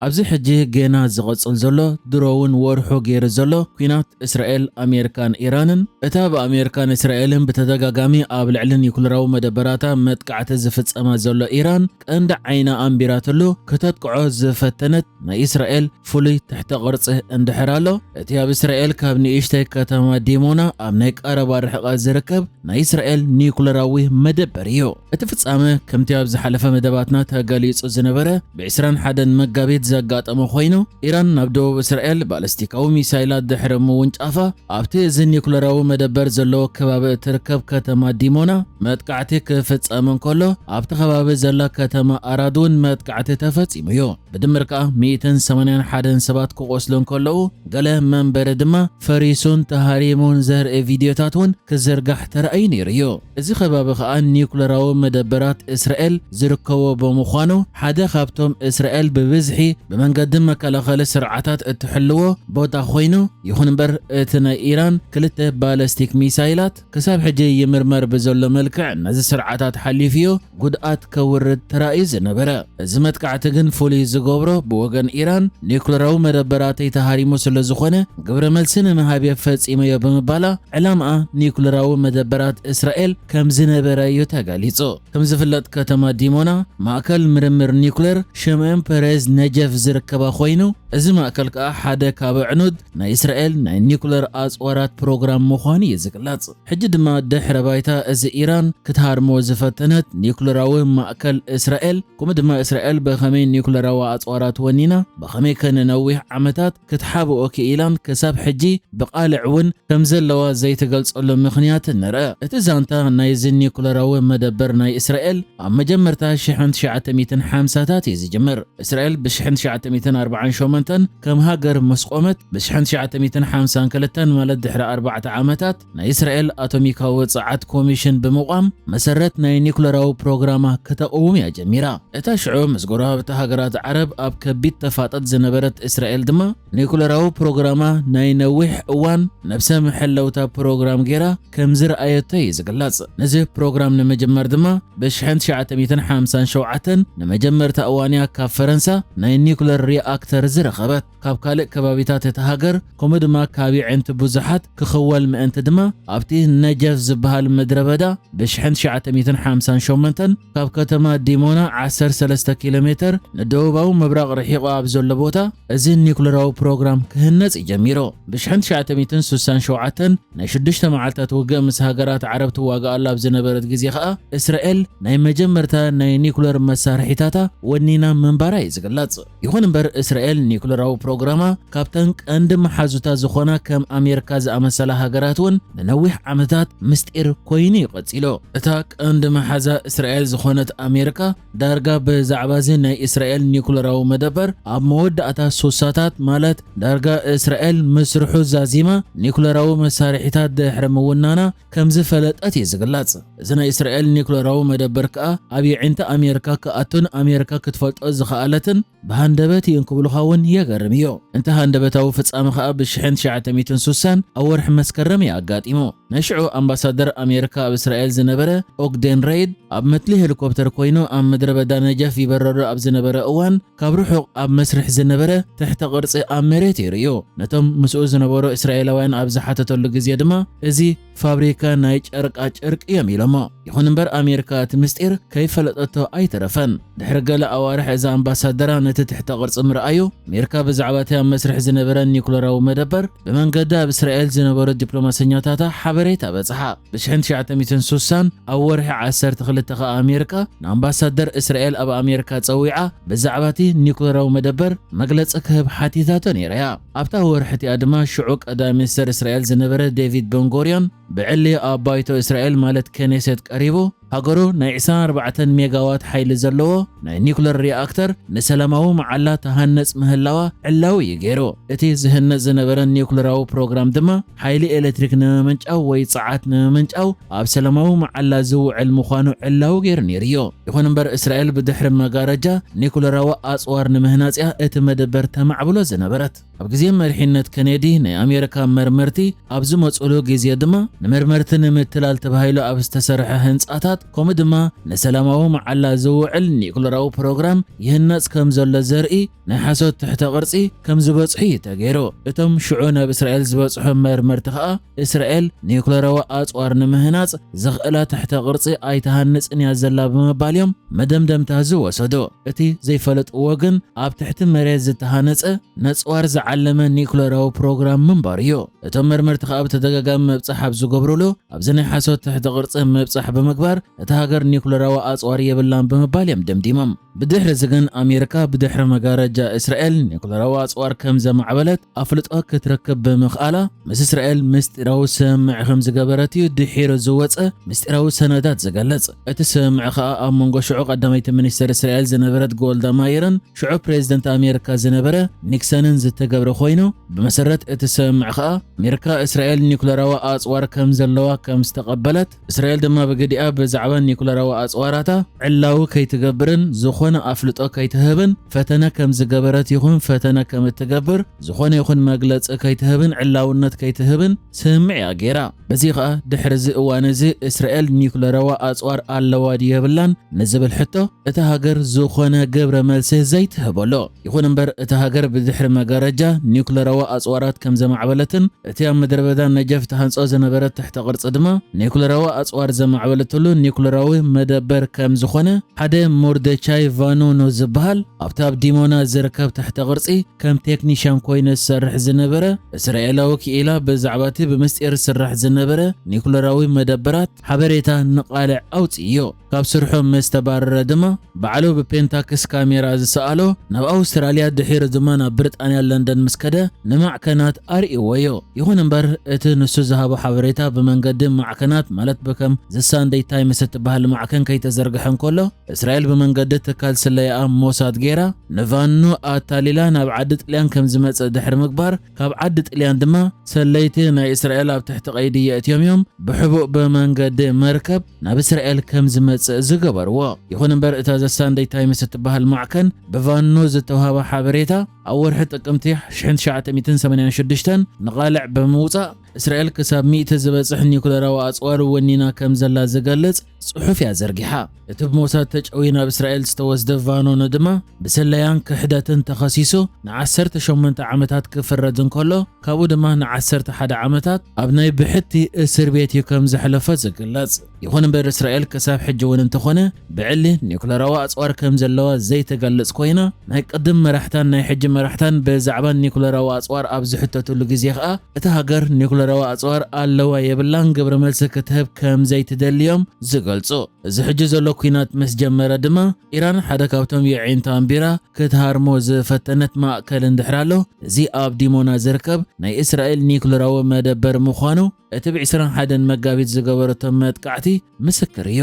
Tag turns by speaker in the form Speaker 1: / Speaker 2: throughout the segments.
Speaker 1: ኣብዚ ሕጂ ጌና ዝቕጽል ዘሎ ድሮውን ወርሑ ገይሩ ዘሎ ኲናት እስራኤል ኣሜሪካን ኢራንን እታ ብኣሜሪካን እስራኤልን ብተደጋጋሚ ኣብ ልዕሊ ኒኩለራዊ መደበራታ መጥቃዕቲ ዝፍጸማ ዘሎ ኢራን ቀንዲ ዓይና ኣንቢራትሉ ክተጥቅዖ ዝፈተነት ናይ እስራኤል ፍሉይ ትሕተ ቅርጺ እንድሕር ኣሎ፣ እቲ ኣብ እስራኤል ካብ ንእሽተይ ከተማ ዲሞና ኣብ ናይ ቀረባ ርሕቐት ዝርከብ ናይ እስራኤል ኒዩክለራዊ መደበር እዩ። እቲ ፍጻመ ከምቲ ኣብ ዝሓለፈ መደባትና ተገሊጹ ዝነበረ ብ ዕስራን ሓደን መጋቢት ዘጋጠመ ኮይኑ፣ ኢራን ናብ ደቡብ እስራኤል ባለስቲካዊ ሚሳይላት ድሕሪ ምውንጫፋ፣ ኣብቲ እዚ ኒዩክለራዊ መደበር ዘለዎ ከባቢ እትርከብ ከተማ ዲሞና መጥቃዕቲ ክፍጸም እንከሎ፣ ኣብቲ ከባቢ ዘላ ከተማ ኣራድ እውን መጥቃዕቲ ተፈጺሙ እዩ። ብድምር ከኣ ሚእትን ሰማንያን ሓደን ሰባት ክቖስሉ እንከለዉ፣ ገለ መንበሪ ድማ ፈሪሱን ተሃሪሙን ዘርኢ ቪድዮታት እውን ክዝርጋሕ ተራእዩ ነይሩ እዩ። እዚ ከባቢ ከኣ ኒዩክለራዊ መደበራት እስራኤል ዝርከቦ ብምዃኑ፣ ሓደ ካብቶም እስራኤል ብብዝሒ ብመንገዲ መከላኸሊ ስርዓታት እትሕልዎ ቦታ ኮይኑ፣ ይኹን እምበር እቲ ናይ ኢራን ክልተ ባለስቲክ ሚሳይላት ክሳብ ሕጂ ይምርመር ብዘሎ መልክዕ ነዚ ስርዓታት ሓሊፉዮ። ጉድኣት ከውርድ ተራእዩ ዝነበረ። እዚ መጥቃዕቲ ግን ፍሉይ ዝገብሮ ብወገን ኢራን ኒዩክለራዊ መደበራተይ ተሃሪሙ ስለዝኾነ ግብረ መልሲ ንምሃብ'የ ፈጺመዮ ብምባላ ዕላምኣ ኒዩክለራዊ መደበራት እስራኤል ከምዝነበረ'ዩ ተገሊጹ። ከምዝፍለጥ ከተማ ዲሞና ማእከል ምርምር ኒዩክለር ሽምኦን ፐሬዝ ነጀፍ ዝርከባ ኮይኑ እዚ ማእከል ከኣ ሓደ ካብ ኣዕኑድ ናይ እስራኤል ናይ ኒዩክለር ኣጽዋራት ፕሮግራም ምዃኑ'ዩ ዝግለጽ። ሕጂ ድማ ድሕረ ባይታ እዚ ኢራን ክትሃርሞ ዝፈተነት ኒዩክለራዊ ማእከል እስራኤል ከምኡ ድማ እስራኤል ብኸመይ ኒዩክለራዊ ኣጽዋራ ትወኒና ብኸመይከ ንነዊሕ ዓመታት ክትሓብኦ ክኢላን ክሳብ ሕጂ ብቓልዕ እውን ከምዘለዋ ዘይትገልጸሉ ምኽንያት ንርእ። እቲ ዛንታ ናይዚ ኒዩክለራዊ መደበር ናይ እስራኤል ኣብ መጀመርታ ሽሕን ትሽዓተ ሚእትን ሓምሳታት እዩ ዝጅምር። እስራኤል ብሽሕን ትሽዓተ ሚእትን ኣርብዓን ሸሞንተን ከም ሃገር ምስ ቆመት ብሽሕን ትሽዓተ ሚእትን ሓምሳን ክልተን ማለት ድሕሪ ኣርባዕተ ዓመታት ናይ እስራኤል ኣቶሚካዊ ጸዓት ኮሚሽን ብምቛም መሰረት ናይ ኒኩለራዊ ፕሮግራማ ክተቕውም እያ ጀሚራ። እታ ሽዑ ምስ ጎረባብቲ ሃገራት ዓረብ ኣብ ከቢድ ተፋጠጥ ዝነበረት እስራኤል ድማ ኒኩለራዊ ፕሮግራማ ናይ ነዊሕ እዋን ነብሰ መሐለውታ ፕሮግራም ጌራ ከም ዝረኣየቶ እዩ ዝግለጽ። ነዚ ፕሮግራም ንምጅማር ድማ ብ1957 ንመጀመርታ እዋንያ ካብ ፈረንሳ ናይ ኒኩለር ሪኣክተር ዝረኸበት ካብ ካልእ ከባቢታት እታ ሃገር ከምኡ ድማ ካብ የዒንቲ ብዙሓት ክኽወል ምእንቲ ድማ ኣብቲ ነጀፍ ዝበሃል ምድረበዳ ብ1958 ካብ ከተማ ዲሞና 13 ኪሎ ሜተር ንደቡባዊ ምብራቕ ርሒቑ ኣብ ዘሎ ቦታ እዚ ኒኩለራዊ ፕሮግራም ክህነጽ ጀሚሩ። ብ1967 ናይ ሽዱሽተ መዓልታት ውግእ ምስ ሃገራት ዓረብ ትዋጋኣሉ ኣብ ዝነበረት ግዜ ከኣ እስራኤል ናይ መጀመርታ ናይ ኒኩለር መሳርሒታታ ወኒና ምንባራ እዩ ዝግለጽ። ይኹን እምበር እስራኤል ኒኩለራዊ ፕሮግራማ ካብተን ቀንዲ መሓዙታ ዝኾና ከም ኣሜርካ ዝኣመሰላ ሃገራት እውን ንነዊሕ ዓመታት ምስጢር ኮይኑ እዩ ቀጺሉ። እታ ቀንዲ መሓዛ እስራኤል ዝኾነት ኣሜርካ ዳርጋ ብዛዕባ'ዚ ናይ እስራኤል ኒኩለራዊ መደበር ኣብ መወዳእታ ሱሳታት ማለት ዳርጋ እስራኤል ምስርሑ ዛዚማ ኒኩለራዊ መሳርሒታት ድሕሪ ምውናና ከምዝፈለጠት እዩ ዝግለጽ። እዚ ናይ እስራኤል ኒኩለራዊ መደበር ከኣ ኣብ የዒንቲ ኣሜርካ ክኣቱን ኣሜርካ ክትፈልጦ ዝኸኣለትን ብሃንደበት እዩ እንክብሉኻ እውን የገርም እዩ። እንተ ሃንደበታዊ ፍጻመ ከኣ ብ ሽሕን ትሽዓተ ሚእትን ሱሳን ኣብ ወርሒ መስከረም እዩ ኣጋጢሙ። ናይ ሽዑ ኣምባሳደር ኣሜርካ ኣብ እስራኤል ዝነበረ ኦግዴን ረይድ ኣብ መትሊ ሄሊኮፕተር ኮይኑ ኣብ ምድረ በዳ ነጀፍ ይበረሉ ኣብ ዝነበረ እዋን ካብ ርሑቕ ኣብ መስርሕ ዝነበረ ትሕተ ቅርጺ ኣብ መሬት እዩ ርእዩ። ነቶም ምስኡ ዝነበሩ እስራኤላውያን ኣብ ዝሓተተሉ ግዜ ድማ እዚ ፋብሪካ ናይ ጨርቃ ጨርቂ እዮም ኢሎሞ። ይኹን እምበር ኣሜሪካ እቲ ምስጢር ከይፈለጠቶ ኣይተረፈን። ድሕሪ ገለ ኣዋርሕ እዛ ኣምባሳደራ ነቲ ትሕተ ቅርጺ ምርኣዩ፣ ኣሜሪካ ብዛዕባ እቲ ኣብ መስርሕ ዝነበረን ኒዩክለራዊ መደበር ብመንገዲ ኣብ እስራኤል ዝነበሩ ዲፕሎማሰኛታታ ሓበሬታ በጽሓ። ብሽሕን ትሽዓተ ሚእትን ሱሳን ኣብ ወርሒ ዓሰርተ ክልተ ከኣ ኣሜሪካ ንኣምባሳደር እስራኤል ኣብ ኣሜሪካ ጸዊዓ ብዛዕባ እቲ ኒዩክለራዊ መደበር መግለጺ ክህብ ሓቲታቶ ነይራ እያ። ኣብታ ወርሒ እቲኣ ድማ ሽዑ ቀዳማይ ሚኒስተር እስራኤል ዝነበረ ዴቪድ በንጎርዮን ብዕሊ ኣብ ባይቶ እስራኤል ማለት ከኔሴት ቀሪቡ ሃገሩ ናይ ዕስራን ኣርባዕተን ሜጋዋት ሓይሊ ዘለዎ ናይ ኒኩለር ሪኣክተር ንሰላማዊ መዓላ ትሃንጽ ምህላዋ ዕላዊ እዩ ገይሩ። እቲ ዝህነጽ ዝነበረ ኒኩለራዊ ፕሮግራም ድማ ሓይሊ ኤለትሪክ ንምምንጫው ወይ ጸዓት ንምምንጫው ኣብ ሰለማዊ መዓላ ዝውዕል ምዃኑ ዕላዊ ገይሩ ነይሩዮ። ይኹን እምበር እስራኤል ብድሕሪ መጋረጃ ኒኩለራዊ ኣጽዋር ንምህናጽ'ያ እቲ መደበር ተማዕብሎ ዝነበረት። ኣብ ግዜ መሪሕነት ከኔዲ ናይ ኣሜሪካ መርመርቲ ኣብ ዝመጹሉ ግዜ ድማ ንመርመርቲ ንምትላል ተባሂሉ ኣብ ዝተሰርሐ ህንጻታት ከምኡ ድማ ንሰላማዊ መዓላ ዝውዕል ኒኩለራዊ ፕሮግራም ይህነጽ ከም ዘሎ ዘርኢ ናይ ሓሶት ትሕተ ቅርጺ ከም ዝበጽሑ እዩ ተገይሩ። እቶም ሽዑ ናብ እስራኤል ዝበጽሑ መርመርቲ ከኣ፣ እስራኤል ኒዩክለራዊ ኣጽዋር ንምህናጽ ዘኽእላ ትሕተ ቅርጺ ኣይትሃንጽን እያ ዘላ ብምባል እዮም መደምደምታ ዝወሰዱ። እቲ ዘይፈለጥዎ ግን ኣብ ትሕቲ መሬት ዝተሃነጸ ነጽዋር ዝዓለመ ኒዩክለራዊ ፕሮግራም ምንባሩ እዩ። እቶም መርመርቲ ከኣ ብተደጋጋሚ ምብጻሕ ኣብ ዝገብሩሉ፣ ኣብዚ ናይ ሓሶት ትሕተ ቅርጺ ምብጻሕ ብምግባር፣ እታ ሃገር ኒዩክለራዊ ኣጽዋር የብላን ብምባል እዮም ደምዲሞም። ብድሕሪዚ ግን ኣሜሪካ ብድሕሪ መጋረጃ እስራኤል ኒዩክለራዊ ኣጽዋር ከም ዘማዕበለት ኣፍልጦ ክትረክብ ብምኽኣላ ምስ እስራኤል ምስጢራዊ ስምምዕ ከም ዝገበረት እዩ ድሒሩ ዝወጸ ምስጢራዊ ሰነዳት ዝገልጽ። እቲ ስምምዕ ከኣ ኣብ መንጎ ሽዑ ቀዳመይቲ ሚኒስተር እስራኤል ዝነበረት ጎልዳ ማይርን ሽዑ ፕሬዝደንት ኣሜሪካ ዝነበረ ኒክሰንን ዝተገብረ ኮይኑ ብመሰረት እቲ ስምምዕ ከኣ ኣሜሪካ እስራኤል ኒዩክለራዊ ኣጽዋር ከም ዘለዋ ከም ዝተቐበለት እስራኤል ድማ ብግዲኣ ብዛዕባ ኒዩክለራዊ ኣጽዋራታ ዕላዊ ከይትገብርን ዝኾነ ኣፍልጦ ከይትህብን ፈተነ ከም ዝገበረት ይኹን ፈተነ ከም እትገብር ዝኾነ ይኹን መግለጺ ከይትህብን ዕላውነት ከይትህብን ስምምዕ እያ ገይራ። በዚ ኸኣ ድሕሪ እዚ እዋን እዚ እስራኤል ኒዩክለራዊ ኣጽዋር ኣለዋ ድዩ የብላን ንዝብል ሕቶ እታ ሃገር ዝኾነ ግብረ መልሲ ዘይትህበሉ ይኹን እምበር እታ ሃገር ብድሕሪ መጋረጃ ኒዩክለራዊ ኣጽዋራት ከም ዘማዕበለትን እቲ ኣብ ምድረበዳ ነጀፍ ትሃንጾ ዝነበረት ትሕተ ቅርጺ ድማ ኒዩክለራዊ ኣጽዋር ዘማዕበለትሉ ኒዩክለራዊ መደበር ከም ዝኾነ ሓደ ሞርደቻይ ቫኖኖ ዝበሃል ኣብቲ ኣብ ዲሞና ዝርከብ ትሕተ ቅርጺ ከም ቴክኒሻን ኮይኑ ዝሰርሕ ዝነበረ እስራኤላዊ ክኢላ ብዛዕባ እቲ ብምስጢር ዝስራሕ ዝነበረ ኒዩክለራዊ መደበራት ሓበሬታ ንቓልዕ ኣውጽእዮ። ካብ ስርሑ ምስ ተባረረ ድማ ባዕሉ ብፔንታክስ ካሜራ ዝሰኣሎ ናብ ኣውስትራልያ ድሒሩ ድማ ናብ ብሪጣንያ ለንደን ምስ ከደ ንማዕከናት ኣርእይዎዮ። ይኹን እምበር እቲ ንሱ ዝሃቦ ሓበሬታ ብመንገዲ ማዕከናት ማለት ብከም ዘ ሳንደይ ታይምስ እትበሃል ማዕከን ከይተዘርግሐ እንከሎ እስራኤል ብመንገዲ ትካል ስለያኣ ሞሳድ ገይራ ንቫኖ ኣታሊላ ናብ ዓዲ ጥልያን ከም ዝመጽእ ድሕሪ ምግባር ካብ ዓዲ ጥልያን ድማ ሰለይቲ ናይ እስራኤል ኣብ ትሕቲ ቀይዲ የእትዮም እዮም ብሕቡእ ብመንገዲ መርከብ ናብ እስራኤል ከም ዝመጽእ ዝገበርዎ። ይኹን እምበር እታ ዘ ሳንደይ ታይምስ እትበሃል ማዕከን ብቫኑ ዝተውሃባ ሓበሬታ ኣብ ወርሒ ጥቅምቲ 1986 ንቓልዕ ብምውጻእ እስራኤል ክሳብ ሚእቲ ዝበጽሕ ኒኩለራዊ ኣጽዋር ወኒና ከም ዘላ ዝገልጽ ጽሑፍ እያ ዘርጊሓ። እቲ ብሞሳድ ተጨውዩ ናብ እስራኤል ዝተወስደ ቫኖኖ ድማ ብስለያን ክሕደትን ተኸሲሱ ንዓሰርተ ሸሞንተ ዓመታት ክፍረድ እንከሎ ካብኡ ድማ ንዓሰርተ ሓደ ዓመታት ኣብ ናይ ብሕቲ እስር ቤት እዩ ከም ዘሕለፎ ዝግለጽ። ይኹን እምበር እስራኤል ክሳብ ሕጂ እውን እንተኾነ ብዕሊ ኒኩለራዊ ኣጽዋር ከም ዘለዋ ዘይተገልጽ ኮይና ናይ ቅድም መራሕታን ናይ ሕጂ መራሕታን ብዛዕባ ኒኩለራዊ ኣጽዋር ኣብ ዝሕተትሉ ግዜ ከኣ እታ ሃገር ኒኩለራዊ ኣጽዋር ኣለዋ የብላን ግብረ መልሲ ክትህብ ከም ዘይትደሊ እዮም ዝገልጹ። እዚ ሕጂ ዘሎ ኲናት ምስ ጀመረ ድማ ኢራን ሓደ ካብቶም የዒንታ ኣንቢራ ክትሃርሞ ዝፈተነት ማእከል እንድሕር ኣሎ እዚ ኣብ ዲሞና ዝርከብ ናይ እስራኤል ኒኩለራዊ መደበር ምዃኑ እቲ ብ ዕስራን ሓደን መጋቢት ዝገበረቶ መጥቃዕቲ ምስክር እዩ።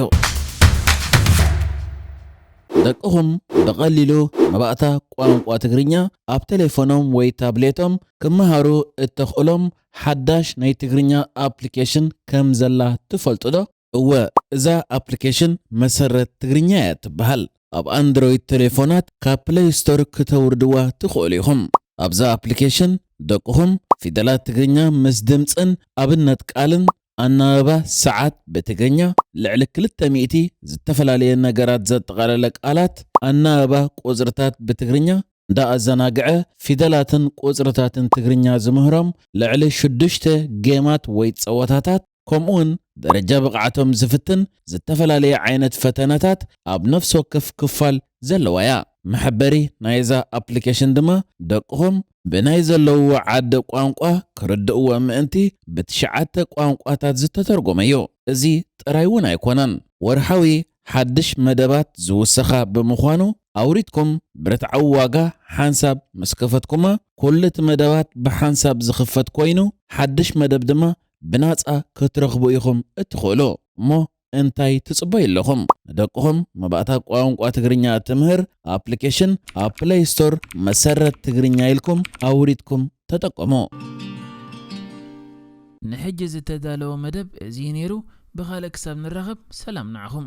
Speaker 1: ደቅኹም ብቐሊሉ መባእታ ቋንቋ ትግርኛ ኣብ ተሌፎኖም ወይ ታብሌቶም ክመሃሩ እተኽእሎም ሓዳሽ ናይ ትግርኛ ኣፕሊኬሽን ከም ዘላ ትፈልጡ ዶ? እወ፣ እዛ ኣፕሊኬሽን መሰረት ትግርኛ እያ እትበሃል። ኣብ ኣንድሮይድ ተሌፎናት ካብ ፕለይ ስቶር ክተውርድዋ ትኽእሉ ኢኹም። ኣብዛ ኣፕሊኬሽን ደቅኹም ፊደላት ትግርኛ ምስ ድምጽን ኣብነት ቃልን፣ ኣናብባ ሰዓት ብትግርኛ፣ ልዕሊ ክልተ ሚእቲ ዝተፈላለየ ነገራት ዘጠቓለለ ቃላት፣ ኣናብባ ቁጽርታት ብትግርኛ፣ እንዳኣዘናግዐ ፊደላትን ቁጽርታትን ትግርኛ ዝምህሮም ልዕሊ ሽዱሽተ ጌማት ወይ ጸወታታት ከምኡውን ደረጃ ብቕዓቶም ዝፍትን ዝተፈላለየ ዓይነት ፈተነታት ኣብ ነፍሲ ወከፍ ክፋል ዘለዋ እያ። መሐበሪ ናይዛ ኣፕሊኬሽን ድማ ደቅኹም ብናይ ዘለውዎ ዓዲ ቋንቋ ክርድእዎ ምእንቲ ብትሽዓተ ቋንቋታት ዝተተርጎመ እዩ። እዚ ጥራይ እውን ኣይኮነን፣ ወርሓዊ ሓድሽ መደባት ዝውሰኻ ብምዃኑ ኣውሪድኩም ብርትዓዊ ዋጋ ሓንሳብ ምስ ከፈትኩማ ኩሉ እቲ መደባት ብሓንሳብ ዝኽፈት ኮይኑ ሓድሽ መደብ ድማ ብናጻ ክትረኽቡ ኢኹም እትኽእሉ። እሞ እንታይ ትጽበዩ ኣለኹም? ንደቅኹም መባእታ ቋንቋ ትግርኛ እትምህር ኣፕሊኬሽን ኣብ ፕለይ ስቶር መሰረት ትግርኛ ኢልኩም ኣውሪድኩም ተጠቀሙ። ንሕጂ ዝተዳለወ መደብ እዚ እዩ ነይሩ ብኻልእ ክሳብ ንራኸብ ሰላም ንዓኹም።